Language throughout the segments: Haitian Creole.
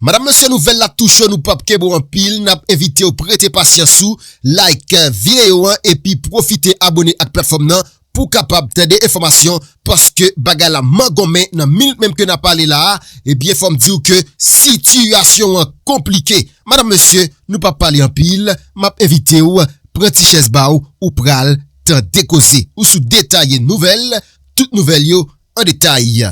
Madam mesye nouvel la tou cho nou pap kenbe w anpil nap envitew prete pasyans ou like video an epi profite abone ak platfom nan pou kapab tande enfomasyon paske bagay la mangonmen nan minit menm ke nap pale la a ebyen fom diw ke sitiyasyon an konplike madam mesye nou pap pale anpil map envitew pran ti chèz ba w ou pral tande koze ou sou detaye nouvel tout nouvel yo an detay.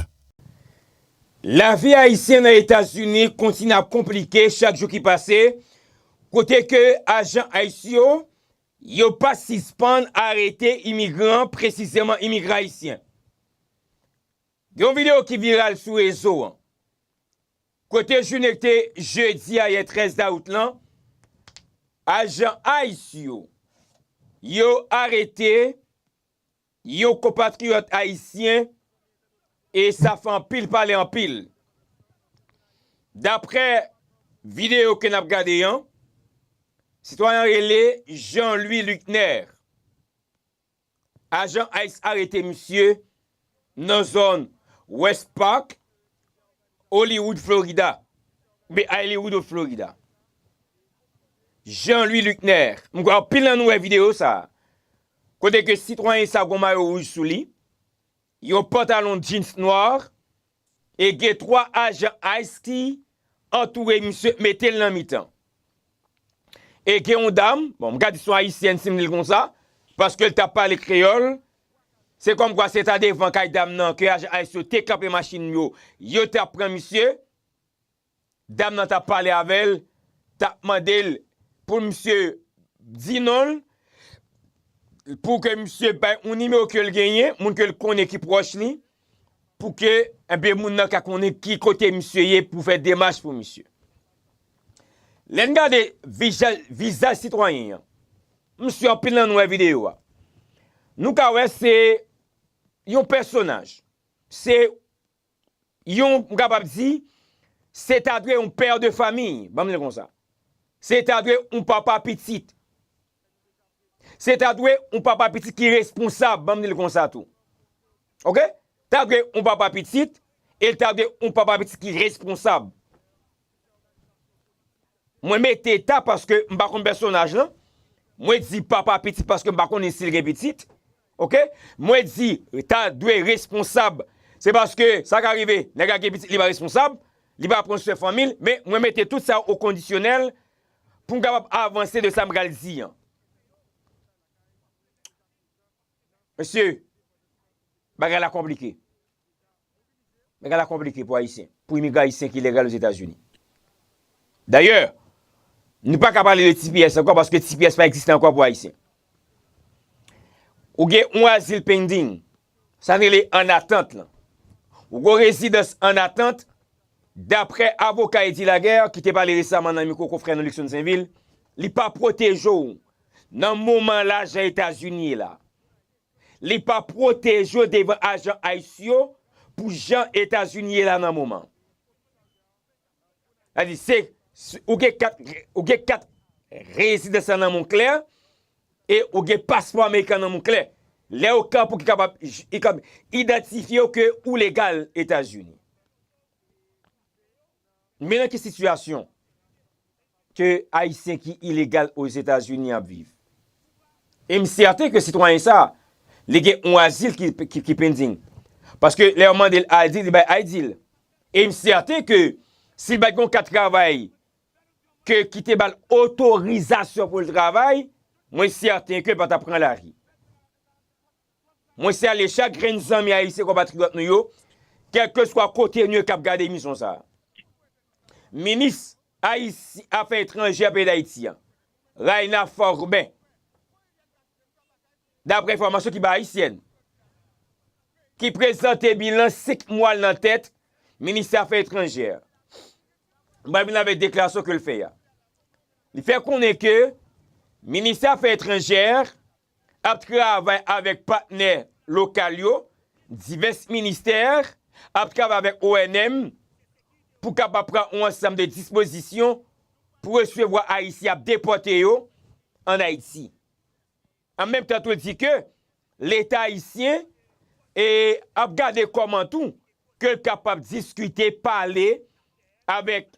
Lavi Ayisyen nan Etazini kontinye ap konplike chak jou ki pase, kote ke ajan ice yo, yo pa sispann arete imigran, presizeman imigran Ayisyen. Gen yon video ki viral sou rezo an, kote jounen ki te jedi a yè 13 dawout lan, ajan ice yo, yo arete Yon konpatriyòt ayisyen e sa fè anpil pale anpil. Daprè videyo ke n ap gade an, sitwayen an rele Jean Louis Luckner. Ajan ice arete misye nan zòn West Park. Hollywood Florida, oubyen Ayliwood of Florida, Jean Louis Luckner, m kwè anpil nan nou wè videyo sa, kote ke sitwayen sa gon mayo wouj sou li, yon pantalon jeans nwa, e gen 3 ajan ice ki antoure misye, mete l nan mitan. E gen yon dam, bon m ka di son ayisyèn si m di l konsa, paske l t ap pale kreyòl, se kòm kwa se ta devan kay dam nan ke ajan ice yo te kanpe machin yo, yo t ap pran misye, dam nan t ap pale avè l, t ap mande l pou misye di non l, pou ke misye bay yon nimewo ke l genyen, moun ke l konnen ki pwòch li, Pou ke enben moun nan ka konnen ki kote misye ye pou fè demach pou misye. Lè n gade vizaj sitwayen an, m si anpil nan nou wè videyo a, nou ka wè se yon pèsonaj, se yon m kapab di, se ta dwe yon pè de famiy, banm di l konsa. Se ta dwe yon papa pitit. Se ta dwe yon papa pitit ki responsab, banm di l konsa tou. Ok? Ta dwe yon papa pitit, e l ta dwe yon papa pitit ki responsab. Mwen mete ta paske m pa konn pèsonaj lan, mwen di papa pitit paske m pa konnen si l gen pitit. Ok? Mwen di ta dwe responsab, se paske sa ka rive nèg la gen pitit li pa responsab, li pa pran swen fanmi l, men mwen mete tout sa o kondisyonèl, Pou m kapab avanse de sa m pral di an. Mesye, bagay la konplike. Bagay la konplike pou Ayisyen. Pou imigran Ayisyen ki legal Ozetazini. Dayè, nou pa ka pale de tps ankò paske tps pa egziste ankò pou Ayisyen. Ou gen yon azil pending. Sa rele an atant lan. Ou gen yon rezidans an atant. Daprè avoka Eddy Laguerre ki te pale resaman nan mikwo konfrè nou Luckson Sainvil, li pa pwoteje w nan moman lajan Etazini ye la. Li pa pwoteje w devan ajan ice yo pou jan Etazini ye la nan moman. Sa di se ou gen kat ou gen kat rezidans la nan men w klè e ou gen paspò amerikan nan men w klè. Lè ou ka pou ki kapab idantifye w ke ou legal Etazini. Men nan ki sitiyasyon ke Ayisyen ki ilegal Ozetazini ap viv. E m sèten ke sitwayen sa, li gen yon azil ki pending. Paske lè yo mande l ID, li bay ID l. E m sèten ke si l pa t gen yon kat travay ke ki te ba l otorizasyon pou l travay, mwen sèten ke l pa t ap pran lari. Mwen salye chak grenn zanmi ayisyen konpatriyòt nou yo, kèlkeswa kote nou ye kap gade emisyon sa a. Minis Ayisyen afè etranjè peyi Dayiti an, Rayna Forben, daprè enfòmasyon ki bay Haïtienne, ki prezante bilan 5 mwa l nan tèt ministè afè etranjè a, bay bilan avèk deklarasyon ke l fè a. Li fè konnen ke ministè afè etranjè ap travay avèk patnè lokal yo, divès ministè ap travay avèk ONM pou kapab pran yon ansanm de dispozisyon pou resevwa Ayisyen y ap depòte yo ann Ayiti. An menm tan tou l di ke Leta ayisyen ap gade kòman tou ke l kapab diskite, pale avèk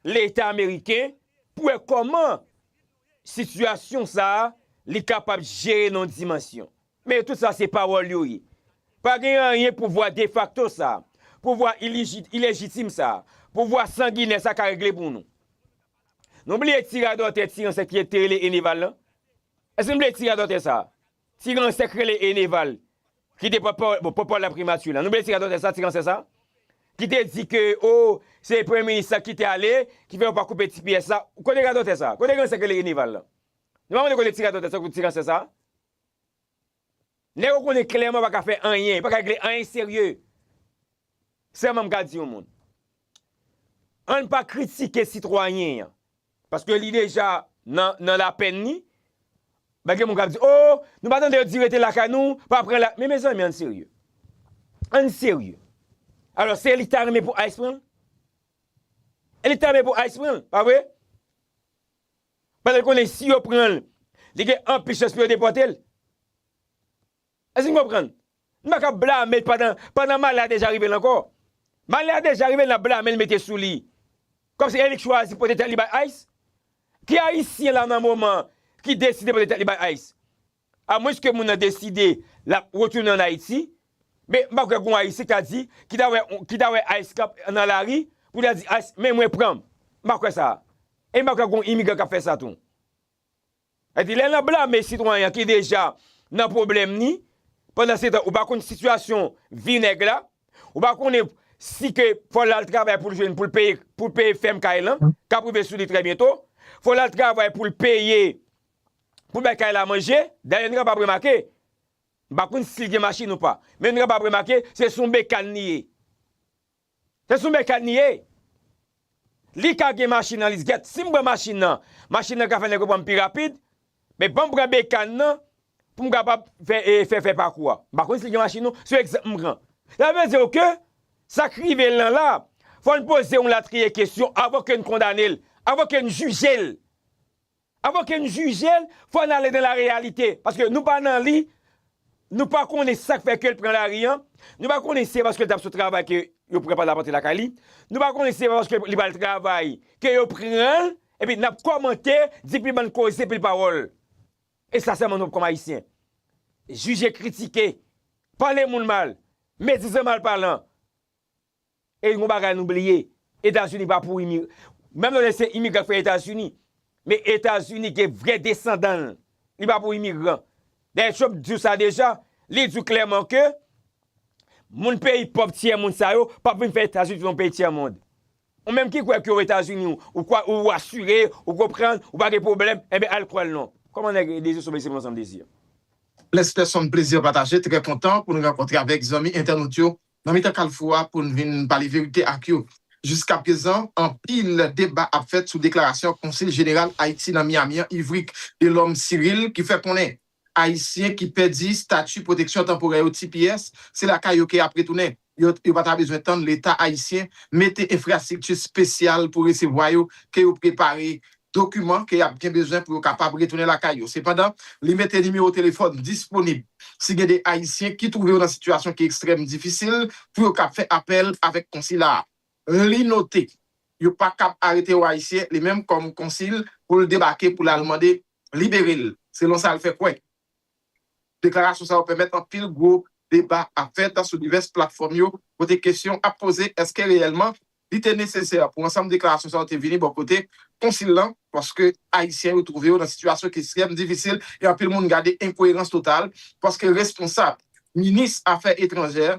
Leta ameriken pou wè kòman Sitiyasyon sa a, li kapab jere nan yon dimansyon. Men tout sa se pawòl yo ye. Pa gen anyen pouvwa defakto sa a, pouvwa ilejitim sa a, pouvwa sanginè sa a ka regle pou nou. Nou bliye ti radòtè, ti ransè ki te rele Eneval lan? Èske nou bliye ti radòtè sa a? Ti ransè k rele Eneval ki te pòtpawòl laprimati la, nou bliye ti radòtè sa, ti ransè sa, ki te di ke oh se premye minis la ki te ale ki fè yo pa koupe ti pyès la, kote radòtè sa, kote ransè k rele Eneval la? Nou pa konnen kote ti radòtè sa, kote ti ransè sa? Nèg ou konnen klèman pa ka fè anyen, pa ka regle anyen serye. Sèlman m ka di yon moun, ann pa kritike sitwayen an, Paske li deja nan lapenn li. Ba gen moun kap di oh nou pa tande yo di rete lakay nou pa pran la men mezanmi ann serye ann serye alò se li ki ta renmen pou ice pranl e li ki ta renmen pou ice pranl pa vre paske l konnen si yo pranl li gen anpil chans pou yo depòtel. Èske nou konprann? Nou pa ka blame l pandan, pandan malè a deja rive l ankò. Malè a deja rive l, n ap blame l mete sou li. Kòmsi e li k chwazi pote tèt li bay ice? Ki ayisyen la nan moman an ki deside pote tèt li bay ice? Amwenske moun nan deside l ap retounen an Ayiti, men m pa kwè gon ayisyen k ta di, ki ta wè, ki ta wè ice k ap nan lari pou l ta di ice men mwen pran m. M pa kwè sa. E m pa kwè gon imigran k ap fè sa tou. Epi lè nan blame sitwayen an ki deja nan pwoblèm ni, pandan se tan ou pa konn sitiyasyon vi nèg la, ou pa konnen si ke fò l al travay pou l jwenn pou l peye pou l peye fèm kay lan k ap rive sou li trè byento, fò l al travay pou l peye pou l bay kay la manje, dayè nou kapab remake, m pa konn si l gen machin ou pa, men nou kapab remake se sou yon bekàn li ye. Se sou mèkan li ye. Li ka gen machin nan lis gèt. Si m pran machin nan, machin nan ka fè nèg yo pran m pi rapid. Men ban m pran bekàn nan pou m kapab fè fè pakou a. M pa konn si li gen machin non. Se egzanp m pran. Sa vle di w ke sa k rive l lan la, fò n poze yon latriye kesyon avan ke n kondane l, avan ke n jije l. Avan ke n jije l, fò n ale nan lareyalite, paske nou pa nan li, nou pa konnen sa k fè ke l pran lari an, nou pa konnen si se paske l t ap sot travay ke yo pran Palamante lakay li, nou pa konnen si se pa paske li pral travay ke yo pran l, epi n ap kòmante, di pil bann koze, pil pawòl. E sa sèlman nou p kòm Ayisyen. Jije, kritike, pale moun mal, medizan, malpalan. E gon bagay nou bliye, Etazini pa pou imigran. Menm lè se imigran k fè Etazini, men Etazini gen vrè desandan l, li pa pou imigran. Dayè Trump di w sa deja, li di w klèman ke moun peyi pòv tyè mond sa yo p ap vin fè Etazini vin yon peyi tyè mond. Ou menm ki kwè ke w Etazini w, ou kwè ou asire, ou konprann, ou pa gen pwoblèm, enben al kwè l non. Kòman nèg Désir Sommeil se m ansanm Désir? Bless Personne Plezi pataje, trè kontan pou n rankontre avèk zanmi entènot yo nan mitan kalfou a pou n vin pale verite ak yo. Jiskaprezan, anpil deba ap fèt sou deklarasyon Konsil Jeneral Ayiti nan Miami an, Yvrick Delorme Cyrille, ki fè konnen Ayisyen ki pèdi stati pwoteksyon tanporè yo, tps, se lakay yo ke y ap retounen. Yo pa ta bezwen tann Leta ayisyen mete enfrastrikti spesyal pou resevwa yo ke yo prepare dokiman ke y ap gen bezwen pou yo kapab retounen lakay yo. Sepandan, li mete nimewo telefòn disponib si gen de Ayisyen ki twouve yo nan sitiyasyon ki ekstrèm difisil pou yo kab fè apèl avèk konsila a. Li note, yo pa kab arete yon Ayisyen, li menm kòm konsil, pou l debake pou l al mande libere l, selon sa l fè kwè. Deklarasyon sa yo pèmèt anpil gwo deba ap fèt sou divès platfòm yo kote kesyon ap poze èske reyèlman li te nesesè pou ansanm deklarasyon sa yo te vini bò kote Konsil lan paske Ayisyen yo twouve yo nan sitiyasyon ki estrèm difisil e anpil moun gade enkoyerans total paske responsab Minis Afè Etranjè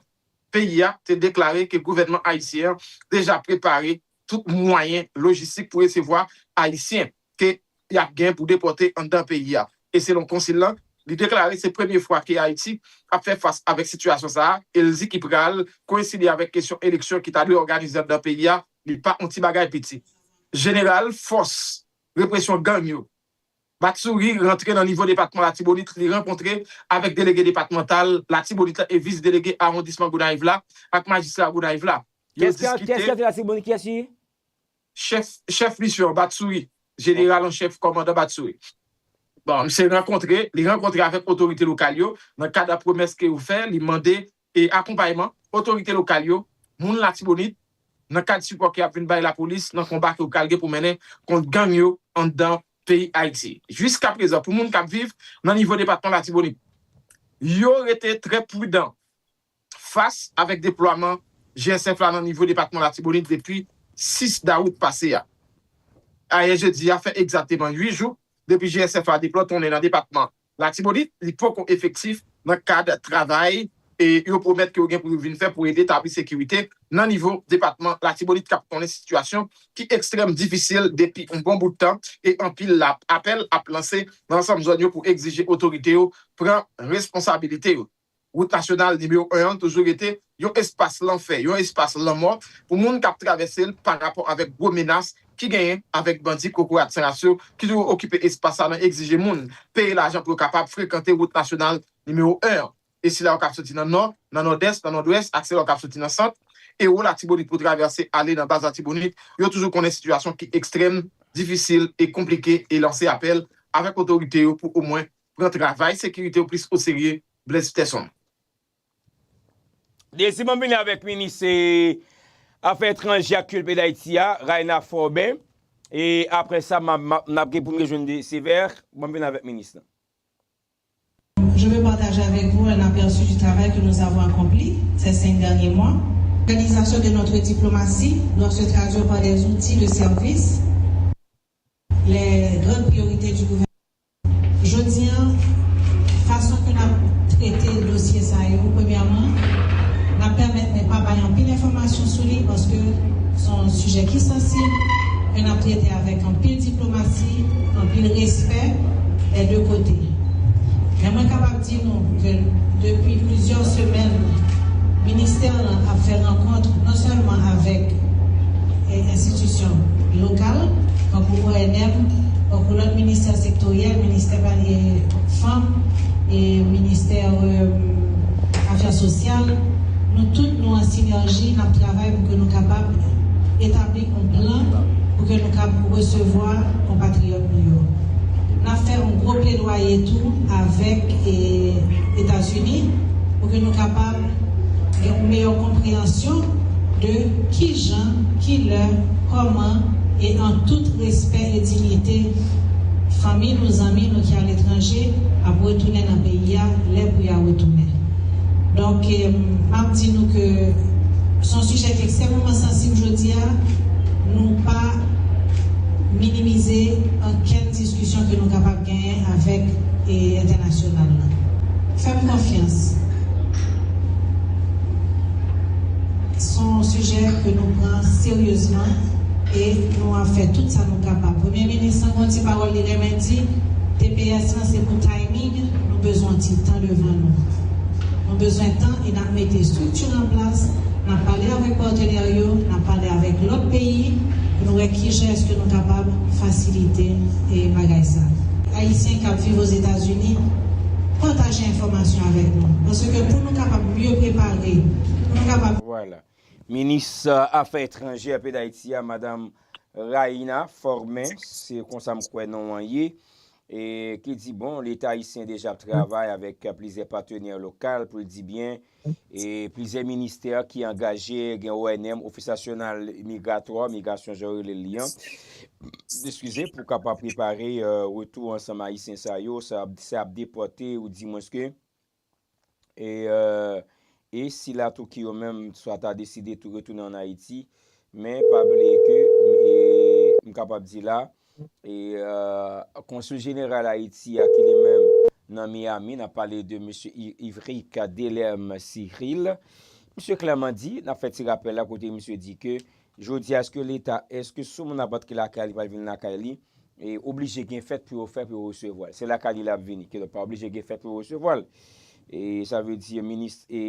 peyi a te deklare ke gouvènman Ayisyen an deja prepare tout mwayen lojistik pou resevwa Ayisyen. ke y ap gen pou depòte anndan peyi a e selon konsil lan, li deklare se premye fwa ke Ayiti ap fè fas avèk sitiyasyon sa a e l di ki pral koyenside avèk kesyon eleksyon ki ta dwe òganize anndan peyi a li pa on ti bagay piti. Jeneral fòs represyon gang yo, Batsuri rantre nan nivo depatman Latibonit, li rankontre avèk delege depatmantal Latibonit la e vis delege awondisman Gonayiv la ak majistra Gonayiv la, yo diskite. Kès ki rantre Latibonit? Kiyès ki. Chèf, chèf misyon an, Batsuri. Jeneral an chèf, kòmandan Batsuri. Bon, misye rankontre, li rankontre avèk otorite lokal yo, nan kad a pwomès ke yo fè, li mande e akonpayman otorite lokal yo, moun Latibonit, nan kad sipò ke y ap vin bay lapolis nan konba ke yo pral gen pou mennen kont gang yo anndan peyi Ayiti. Jiskaprezan, pou moun k ap viv nan nivo depatman Latibonit, yo rete trè prudan. fas avèk deplwaman GSF la nan nivo depatman Latibonit depi 6 dawout pase a. Ayè jedi a fè egzakteman 8 jou depi GSF la deplòtonnen nan depatman Latibonit, li poko efektif nan kad travay yo pwomèt ke yo gen pou yo vin fè pou ede tabli sekirite nan nivo depatman Latibonit kap konnen sitiyasyon ki ekstrèm difisil depi yon bon bout tan e anpil apèl ap lanse nan ansanm zòn yo pou egzije otorite yo pran responsabilite yo. Wout nasyonal nimewo 1 an toujou rete yon espas lanfè, yon espas lanmò pou moun k ap travèse l parapò avèk gwo menas ki genyen avèk bandi kokoratsaras yo ki toujou okipe espas sa nan egzije moun peye lajan pou yo kapab frekante wout nasyonal nimewo 1 an. E sila yo k ap soti nan nò, nan nòdès, nan nòdwès ak sila yo k ap soti nan sant e wo Latibonit pou travèse ale nan bas Latibonit yo toujou konnen sitiyasyon ki ekstrèm, difisil e konplike e lanse apèl avèk otorite yo pou omwen pran travay sekirite w plis oserye Blaise Pterson. Dezyèm an vini avèk minis afè etranje ak kilti peyi Dayiti a, Rayna Forben, e aprè sa n ap gen pou n rejwenn de Sévère, ban m vini avèk minis lan. Je veux partager avec vous un aperçu du travail que nous avons accompli ces cinq derniers mois. L'organisation de notre diplomatie doit se traduire par des outils de service, les grandes priorités du gouvernement. Jodi an, fason ke n ap trete dosye sa yo, premyèman, n ap pèmèt mwen pa bay anpil enfòmasyon sou li paske se yon sijè ki sansib, ke n ap trete avèk anpil diplomasi, anpil respè dè de kote. Men mwen kapab. di nou ke depi plizyè semèn ministè lan ap fè rankont non sèlman avèk enstitisyon lokal tankou ONM, tankou lòt ministè sektoryèl, ministè fanm, ministè afè sosyal, nou tout nou an sinèji nap travay pou ke nou kapab etabli yon plan pou ke nou kab resevwa konpatriyòt. moun yo. N ap fè yon gwo pledwaye tou avèk Etazini pou ke nou kapab gen yon meyè konpreyansyon de ki jan, ki lè, kòman e an tout respè e dignite fanmi nou, zanmi nou ki aletranje ap retounen nan peyi a lè pou y a retounen. Donk, m ap di nou ke se yon sijè ki ekstrèmeman sansib jodi a, nou pa. minimize ankenn diskisyon ke nou kapab genyen avèk entènasyonal la. Fè m konfyans, s on sijè ke nou pran seryezman e nou ap fè tout sa nou kapab. Premye Minis lan gen yon ti pawòl li renmen di, tps lan se pou timing, nou bezwen yon ti tan devan nou. Nou bezwen tan. e n ap mete estrikti an plas, n ap pale avèk patenè yo, n ap pale avèk lòt peyi pou nou wè kijan èske nou kapab fasilite bagay sa. Ayisyen k ap viv Ozetazini, pataje enfòmasyon avèk nou paske pou nou kapab mye prepare, pou nou kapab. Vwala. Minis afè etranjè peyi Dayiti a, Madam Raïna Formin, se konsa m kwè non an ye, E ki di bon, Leta ayisyen deja ap travay avèk plizyè patenè lokal pou l di byen, e plizyè ministè ki angaje, gen ONM, Ofis Nasyonal Migratwa, Migrasyon jan yo rele li an, eskize, pou kapab prepare retou ansanm ayisyen sa yo, sa ap depòte ou di mwens ke. e si la Touki yo menm swa ta deside tou retounen an Ayiti, men pa bliye ke m kapab di la, Konsul Jeneral Ayiti a ki li menm nan Miyami, n ap pale de Mesye Yverick Delerme Cyrille, misye klèman di, n ap fè ti rapèl la kote misye di ke Jodi a eske leta eske si yon moun ap antre lakay li pral vin lakay li e oblije gen fèt pou yo fè pou yo resevwal se lakay li lap vini kidonk pa oblije gen fèt pou yo resevwal e sa vle di minis e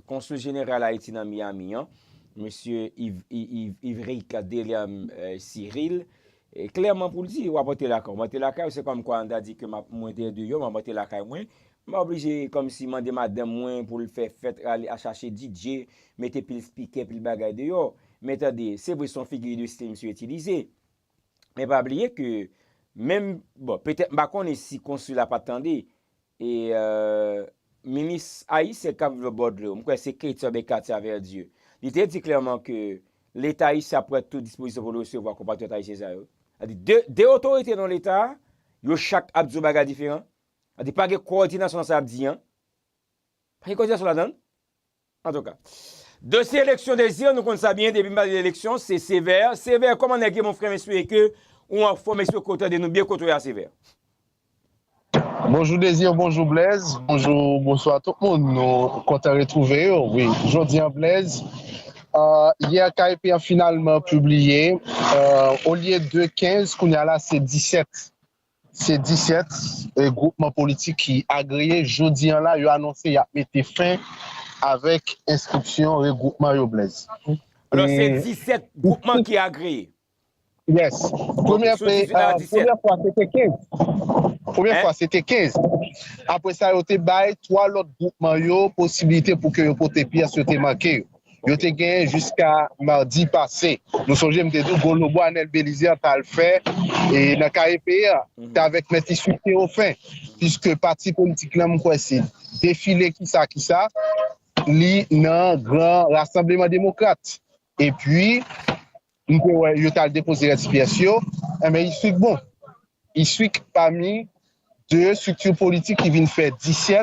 konsul jeneral ayiti nan Miami an mesye Yves Yves Yves Ricard Deliam Cyrille Klèman pou l di, w ap antre lakay w. M antre lakay w, se kòm kwa m ta di ke m ap, mwen te deyò, m ap antre lakay mwen. M pa oblije kòm si mande madanm mwen pou l fè fèt, rale a chache DJ, mete pil spikè, pil bagay deyò. Men tande, se vre se yon figi de stil misye itilize. Men pa bliye ke menm, bon, petèt m pa konnen si konsi la pa t tande, E minis ayisyen k ap viv Bòdlo, m kwè se Kate oubyen Katia Verdieu, li te di klèman ke Leta ayisyen ap pran tout dispozisyon pou l resevwa konpatriyòt ayisyen sa yo. Sa vle di, de otorite nan Leta a, yo chak ap di yon bagay diferan. Sa vle di pa gen kowòdinasyon nan sa y ap di an. Pa gen kowòdinasyon ladan l. Antouka. Dosye eleksyon Desir nou konn sa byen depi nou pale de eleksyon se Sévère, Sévère kòman nèg ye mon frè m espere ke ou anfòm espere ke ou tande nou byen kote w ye a Sévère. Bonjou Désir bonjou Blaise bonjou bonswa tout moun nou kontan retrouve yo wi jodi an Blaise yè KEP an finalman pibliye olye de 15 kounye a la se 17 Se 17 gwoupman politik ki agreye jodi an la yo anonse y ap mete fen avèk enskripsyon regwoupman yo Blaise. Alò se 17 gwoupman ki agreye? Yes. Premyè fwa se te 15. Premyè fwa se te 15. Apre sa yo te bay 3 lòt gwoupman yo posibilite pou ke yo pote pyès yo te manke yo. yo te genyen jiska madi pase. Nou sonje m te di w gwo lobo Anèl Belize t al fè nan KEP a te avèk Mèt Iswit Tewofen piske pati politik lan m kwè se defile kisa kisa li nan gran rasanbleman demokrat epi m te wè yo t al depoze rès pyès yo enben Iswik bon Iswik pami 2 estrikti politik ki vin fè 17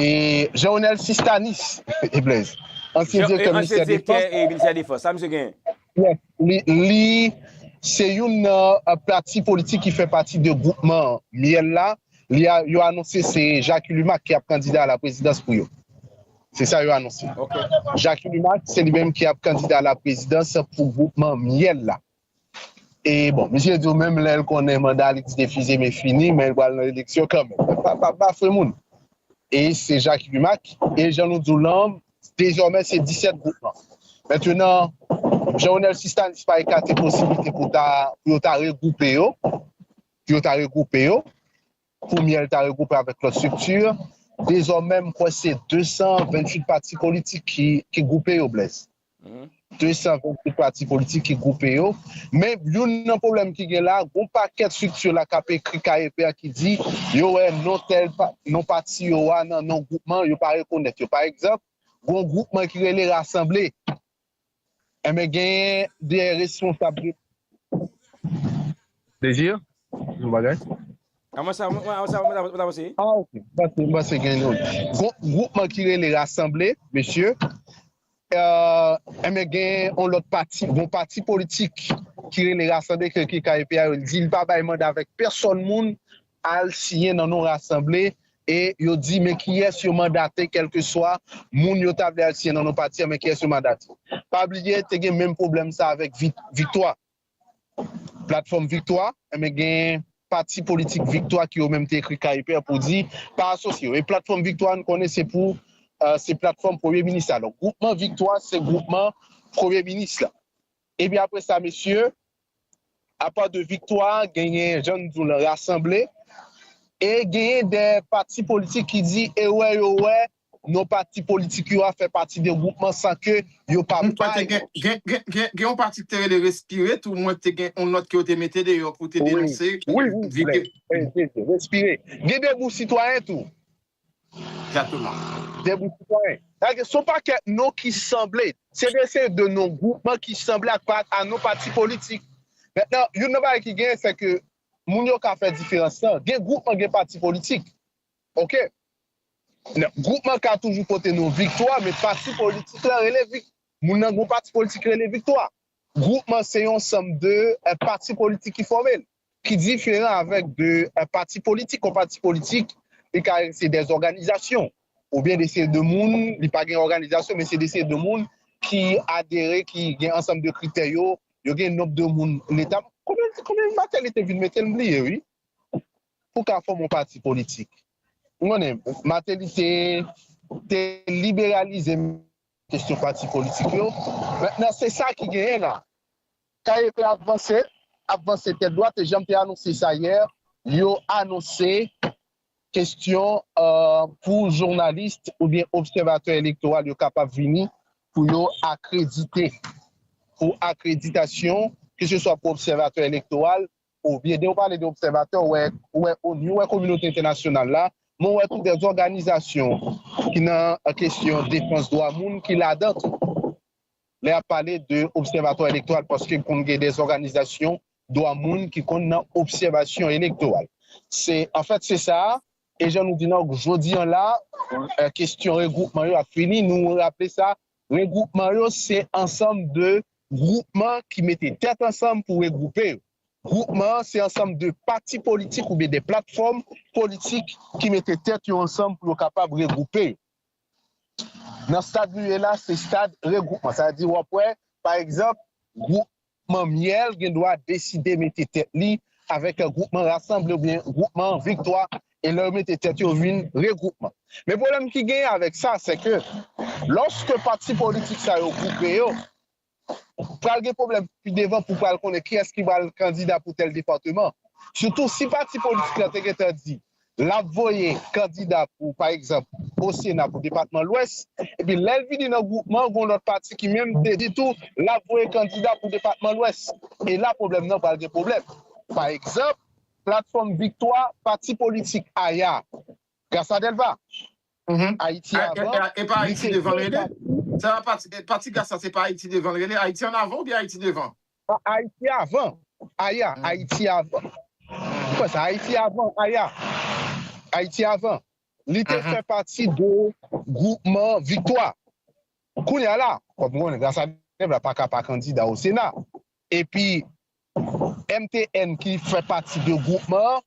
E Jean Onel Sistanis e Blaise. Ansyen direktè ministè defans. Ansyen direktè ministè defans. Sa misye genyen? Yes. Li se youn nan pati politik ki fè pati de gwoupman Myèl la. Yo anonse se Jacky Lumac ki ap kandida a la prezidans pou yo. Se sa yo anonse. Jacky Lumac se li menm ki ap kandida a la prezidans pou gwoupman Myèl la. E bon, misye di w menm lè l konnen manda li ti defize men fini, men l pral nan eleksyon kanmenm. Pa bafwe moun. E se Jacques Rumack, e jan nou di w lan, dezòmè se 17 gwoupman. Mentenan, Jean Ronel Sistanis pa ekate posiblite pou ta, pou yo ta regwoupe yo, pou yo ta regwoupe yo. Koumyè l ta regwoupe avèk lòt strikti? Dezòmè m kwè se 228 pati politik ki gwoupe yo Blaise. 228 pati politik ki gwoupe yo. Men youn nan pwoblèm ki gen la, gon pakèt strikti la k ap ekri kaye pè ki di yo wè non tèl non pati yo a nan non gwoupman yo pa rekonèt yo. Pa egzanp, gon gwoupman ki rele Rasanble. Enben genyen de responsab de. Désir? Yon bagay? A mwen sa, mwen sa mwen ta panse. Ah ok, m panse, m panse gen yon gwoupman ki rele rasanble, mesye. Enben gen yon lòt pati, yon pati politik ki rele rasanble ke KEP a yo di li pa bay manda avèk pèsòn moun al siyen nan non rasanble e yo di men kiyès yo mandate kèlkeswa moun yo ta vle al siyen nan non pati a men kiyès yo mandate pa bliye te gen menm pwoblèm sa avèk viktwa platfòm viktwa enben gen pati politik viktwa ki yo menm te ekri ka ipèr pou di pa asosye yo e platfòm viktwa nou konnen se pou se platfòm premye minis la donk gwoupman viktwa se gwoupman premye minis la epi apre sa mesye Apa de viktwa genyen jan n di w lan rasanble e genyen de pati politik ki di ewè yo wè non pati politik yo a fè pati de gwoupman san ke yo pa bay Gen yon pati ki te rele respire tou mwen te gen yon nòt ke yo te mete deyò pou te denonse Wi wi respire gen de gwoup sitwayen tou Exactement. Debout Sitwayen. Sa gen son pakèt non ki sanble. Se de se de non gwoupman ki sanble ak pa a non pati politik. Mentnan, youn nan bagay ki genyen se ke moun yo ka fè diferans lan. Gen gwoupman gen pati politik. Ok. Nan, gwoupman ka toujou pote non viktwa men pati politik lan rele vik. Moun nan gon pati politik ki rele viktwa. Gwoupman se yon sanm de pati politik ki fòme l. Ki diferan avèk de pati politik. Yon pati politik li ka se de zòganizasyon oubyen de seri de moun, li pa gen òganizasyon men se de seri de moun ki adere, ki gen ansanm de kritè yo, yo gen nonb de moun leta, konbyen Mateli te vin mete m bliye wi pou ka fòme yon pati politik. M konnen Mateli te liberalize kesyon pati politik yo men se sa ki genyen la. KEP ap vanse, ap vanse tèt dwat e janm te anonse sa yè, yo anonse kestyon pou jounalis oubyen obsèvatè elektoral yo kapab vini pou yo akredite, pou akreditasyon ke se swa pou obsèvatè elektoral oubyen de ou pale de obsèvatè ou wè ou wè onu, ou wè kominote entènasyonal la, men ou wè tou dè zòganizasyon ki nan kestyon defans dwa moun ki ladan tou. lè yap pale de obsèvatwa elektoral paske konn gen dè zòganizasyon dwa moun ki konn nan obsèvasyon elektoral se anfèt se sa e jan nou di nan jodi an la kestyon regwoupman yo ap fini nou raple sa regwoupman yo se ansanm de gwoupman ki mete tèt ansanm pou regwoupe yo gwoupman an se ansanm de pati politik oubyen de platfòm politik ki mete tèt yo ansanm pou yo kapab regwoupe yo. Nan stad nou ye la se stad regwoupman, sa di wap wè pa egzanp gwoupman myèl gen dwa deside mete tèt li avèk gwoupman rasanble oubyen gwoupman viktwa e lè yo mete tèt yo vin regwoupman. Men pwoblèm ki genyen avèk sa sèke lòske pati politik sa yo gwoupe yo Pral gen pwoblèm pi devan pou pral konnen kiyès ki pral kandida pou tèl departeman. Sitou si pati politik la te gentan di lap voye kandida pou pa egzanp o sena pou depatman lwès epi lèl vini nan gwoupman gon lòt pati ki menm te di tou lap voye kandida pou depatman lwès e la pwoblèm nan pral gen pwoblèm. Pa egzanp, platfòm viktwa pati politik aya, Gras a Dèlva, Ayiti avan, li se veytab tou. Pati gas la se pa Ayiti devan l rele? Ayiti an avan oubyen Ayiti devan? Ayiti avan, aya, Ayiti avan. Ou kwè sa? Ayiti avan, aya, Ayiti avan. Li te fè pati de gwoupman Viktwa. Kounye a la, kòm nou konnen Graça Dèvla pa ka pa kandida o Sena, epi MTN ki fè pati de gwoupman an,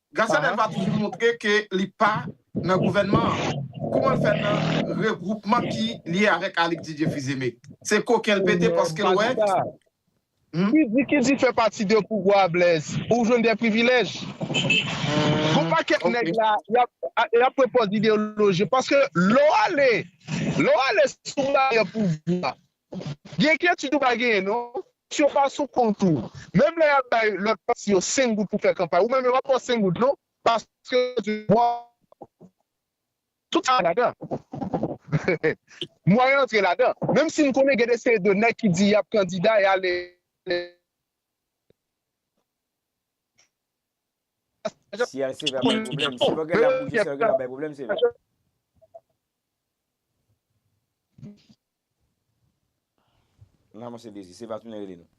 Gracia Delva toujou montre ke li pa nan gouvènman an. Kouman l fè nan regwoupman ki lye avèk Alix Didier Fils-Aimé? Se koken l pete paske l wè Ki di ki di fè pati de pouvwa a Blaise? Ou jwenn de privilèj? Gon pakèt nèg la y ap pran pòz ideyoloji paske lè w ale sou radar pouvwa Gen enkyetid ou pa genyen non. Pòs yo pa sou kont ou. Menm lè yap bay lòt pati yo 5 goud pou fè kanpay ou menm yo pap baw 5 goud non paske yo di waw tout sa ladan mwayen antre ladan menm si m konnen gen de seri de nèg ki di yap kandida yal eleksyon Si yal sèvi ap bay pwoblèm si pagen lap bouje se yo ki pral bay pwoblèm sevè. Nan mwen se dezi. Se va tounen rele nou.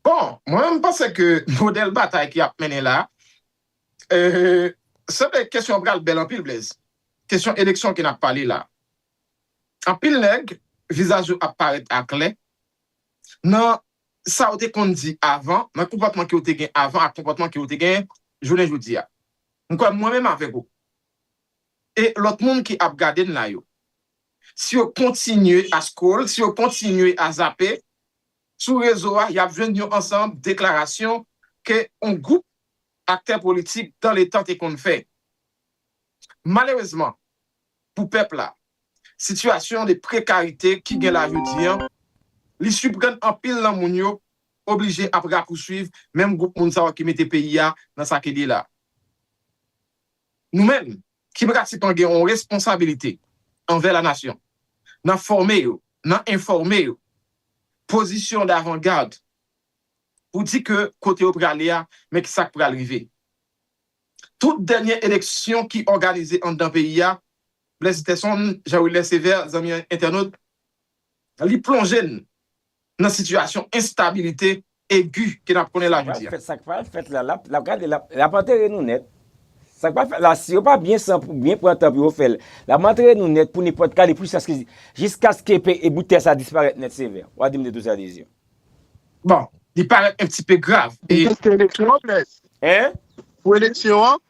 Bon, mwen menm m panse ke modèl batay ki ap mennen la, sanble kesyon an pral bèl anpil Blaise. Kesyon eleksyon ke n ap pale la. Anpil nèg, vizaj yo ap parèt aklè nan sa yo te konn di avan, nan konpòtman ke yo te gen avan ak konpòtman ke yo te gen jounen jodi a. M kwè mwen menm avèk ou e lòt moun ki ap gade n la yo. si yo kontinye a scroll, si yo kontinye a zape sou rezo a, y ap jwenn yon ansanm deklarasyon ke yon gwoup aktè politik dan le tan te konn fè. Malerezman pou pèp la, sitiyasyon de prekarite ki gen la jodi an, li siprann anpil nan moun yo oblije ap rapousuiv menm gwoup moun sa yo ki mete peyi a nan sa ke li la. Nou menm, ki pratikan gen yon responsabilite anvè la nasyon nan fòme yo, nan enfòme yo, pozisyon davangad pou di ke kote yo prale a men ki sa k pral rive. Tout dènye eleksyon ki òganize anndan peyi a, Blaise Sterson, Jean Wilner Sévère, zanmi entènot, li plonje n nan sitiyasyon enstabilite egi ke nap konnen la jodi a. Sa k pral fèt la, lap gade lap antere nou nèt. Sa k pral fèt la si yo pa byen san pou byen pran tan pou yo fè l, lap antere nou nèt pou nenpòt kale pwisaske jiskaske peyi bout tè sa disparèt nèt sevè. Wa di m de tou sa de zye. Bon, li parèt un pti pe grav. Ou teste eleksyon an, Blaise? Hein? Pou eleksyon an?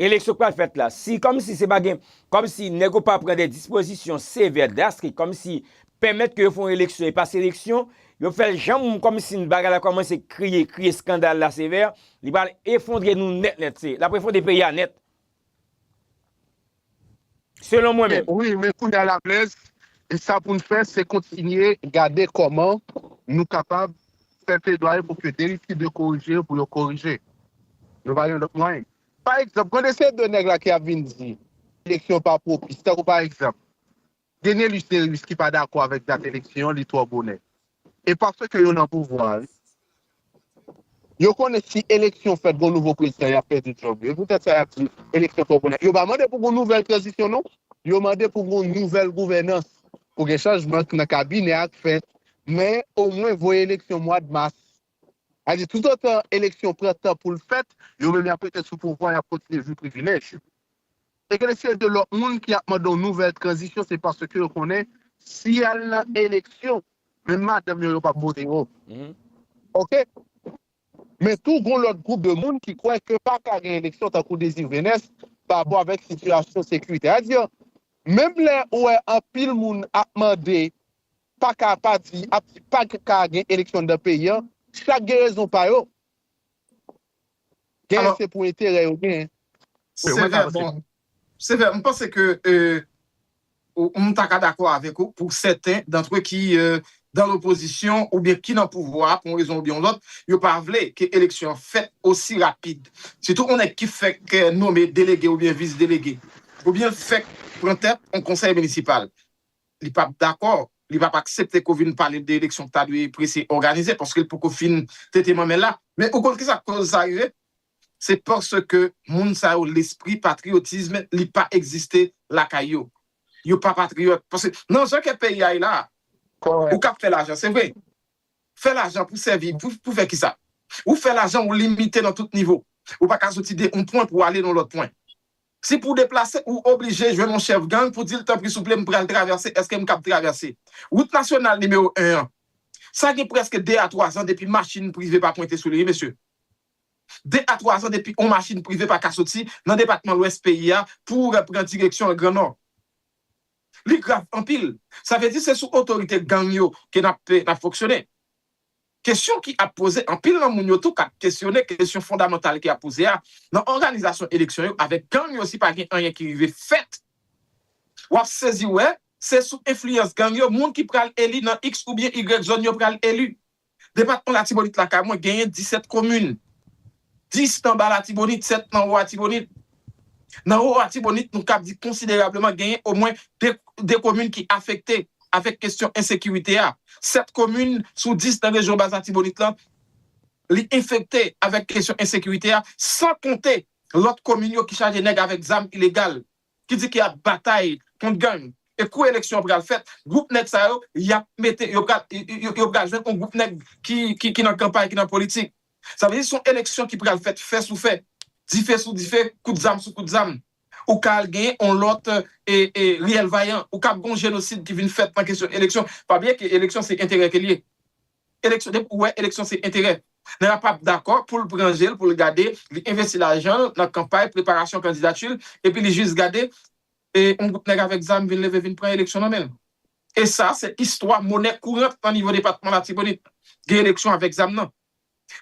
Eleksyon k pral fèt la, si kòm si se pa gen, kòm si nèg yo pa pran de dispozisyon sevè, drastik, kòm si pèmèt ke yo fè yon eleksyon e pa seleksyon, yo fè l janm kòm si bagay la kòmanse kriye, kriye skandal la sevè, li pral efondre nou nèt nèt, se, l ap efondre peyi a nèt. Selon mwen menm. Wi men kounya la blèz e sa poun fè se kontinye gade kòman nou kapab fè pledwaye pou ke derive de korije pou yo korije nou pa gen lòt mwayen pa egzanp gade se 2 nèg la ki ap vin di eleksyon pa pwopis tankou pa egzanp Denelus Derius ki pa dakò avèk dat eleksyon an li twò bonè. E paske yo nan pouvwa a wi. Yo konnen si eleksyon fèt gon nouvo prezidan yap pèdi djòb yo. E poutèt sa yap di eleksyon twò bonè. Yo pa mande pou gon nouvèl tranzisyon non. Yo mande pou gon nouvèl gouvènans. Pou gen chanjman nan kabinè a k fèt. Men omwen voye eleksyon mwad mas. Sa di toutotan eleksyon pran tan pou l fèt, yo menm y ap rete sou pouvwa, y ap kontinye jwi privilèj yo. E gen se de lòt moun ki ap mande yon nouvèl tranzisyon se paske yo konnen si y al nan eleksyon, menm madanm yo, yo p ap vote yo. Ok. Men tou gon lòt gwoup de moun ki kwè ke pa ka gen eleksyon tankou Désir Vénès pa rapò avèk sitiyasyon sekiritè. Sa di menm lè ou wè anpil moun ap mande paka pa di ap di paka gen eleksyon anndan peyi an chak gen rezon pa yo genyen se pou enterè yo genyen. Sevè bon Sevè m panse ke m ta ka dakò avèk ou pou sèten dantre ki dan lopozisyon oubyen ki nan pouvwa pou yon rezon oubyen yon lòt yo pa vle ke eleksyon an fèt osi rapid sitou yon nèg ki fèk nome delege oubyen vis delege oubyen l fèk pran tèt yon konsèy minisipal. Li pap dakò, li pap aksepte ke w vin pale l de eleksyon ki ta dwe prese òganize, paske l poko fin tete manmèl la. Men ou konn kisa koz sa rive? Se paske moun sa yo lespri patriyotism li pa egziste lakay yo. Yo pa patriyòt. Paske nan jan ke peyi a ye la a, ou kab fè lajan se vre. Fè lajan pou sèvi, pou fè kisa? Ou fè lajan ou limite nan tout nivo. Ou paka soti de yon pwen pou ale nan lòt pwen. Si pou w deplase ou oblije jwenn yon chèf gang pou di l tanpri souple m pral travèse èske m kab travèse wout nasyonal nimewo 1 an sa gen prèske 2 a 3 zan depi machin prive pa pwente sou li wi mesye 2 a 3 zan depi yon machin prive pa ka soti nan depatman lwès peyi a pou w pran direksyon l gran nò li grav anpil sa vle di se sou otorite gang yo ke n ap n ap fonksyone. Kesyon ki ap poze, anpil nan moun yo tou kap kesyone kesyon fondamantal ki ap poze a, nan òganizasyon eleksyon yo avèk gang yo si pa gen anyen ki rive fèt, wap sezi wè se sou enfliyans gang yo moun ki pral eli nan iks oubyen igrèk zòn yo pral eli. Depatman Latibonit lakay mwen genyen 17 komin. 10 nan ba Latibonit, 7 nan wo Atibonit. Nan wo Atibonit nou kab di konsiderableman genyen omwen 2 komin ki afekte avèk kesyon ensekirite a. 7 komin sou 10 nan rejyon bas Atibonit lan li enfekte avèk kesyon ensekirite a san konte lòt komin yo ki chaje nèg avèk zam ilegal. ki di ki ap batay kont gang e kou eleksyon pral fèt gwoup nèg sa yo yap mete yo pral yo pral jwenn yon gwoup nèg ki ki nan kanpay ki nan politik sa vle di son eleksyon ki pral fèt fè sou fè dife sou dife kout zam sou kout zam ou ka al genyen yon lòt e e riyèl vayan ou kab gon jenosid ki vin fèt nan kesyon eleksyon pa bliye ke eleksyon se enterè ke liye eleksyon depi ou wè eleksyon se enterè nan la pap dakò poul pran jel poul gade li envesti lajanl nan kanpay preparasyon kandidatil epi li jis gade yon gwoup nèg avèk zam vin leve vin pran eleksyon nan menl e sa se istwa monè kourant nan nivo depatman latibonit gen eleksyon avèk zam nan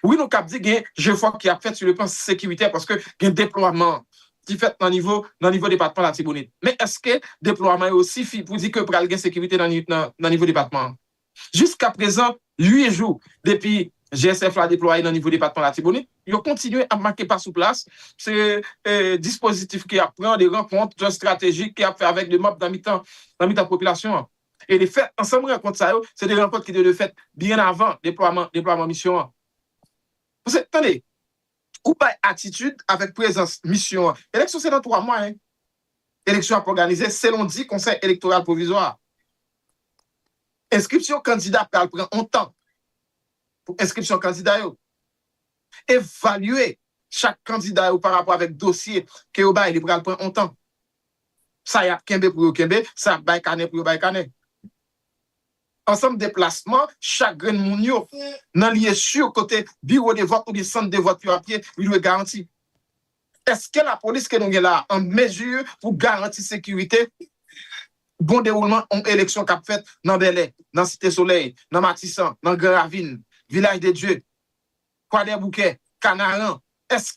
wi nou kab di gen jefò ki ap fèt si le plan sekiritè paske gen deplwaman ki fèt nan nivo nan nivo depatman latibonit men eske deplwaman yo sifi pou di ke pral gen sekirite nan nivo depatman. Jiska prezan, 8 jou depi GSF la deplwaye nan nivo depatman Latibonit, yo kontinye ap make pa sou plas, se dispozitif ke y ap pran, de rankont estratejik ke y ap fè avèk de mab nan mitan nan mitan popilasyon an. E de fèt, ansanm rankont sa yo, se de rankont ki te dwe fèt byen avan deplwaman deplwaman misyon an. Paske, tande, ou bay atitid avèk prezans misyon an. Eleksyon se nan 3 mwa, hein. Eleksyon ap òganize selon di Konsèy Elektoral Pwovizwa a. Enskripsyon kandida pral pran on tan pou enskripsyon kandida yo. Evalye chak kandida yo parapò avèk dosye ke yo bay li pral pran on tan. Sa yap kenbe pou yo kenbe, sa yap bay kanè pou yo bay kanè. Ansanm deplasman chak grenn moun yo nan lye sur kote biwo de vòt oubyen sant de vòt yo ap ye li dwe garanti. Eske lapolis ke nou gen la an mezi pou garanti sekirite bon dewoulman yon eleksyon kap fèt nan Bèlè, nan Site Solèy, nan Matisan, nan Gran Ravin, Vilaj de Dye, Kwadèboukè, Kanaran? Eske.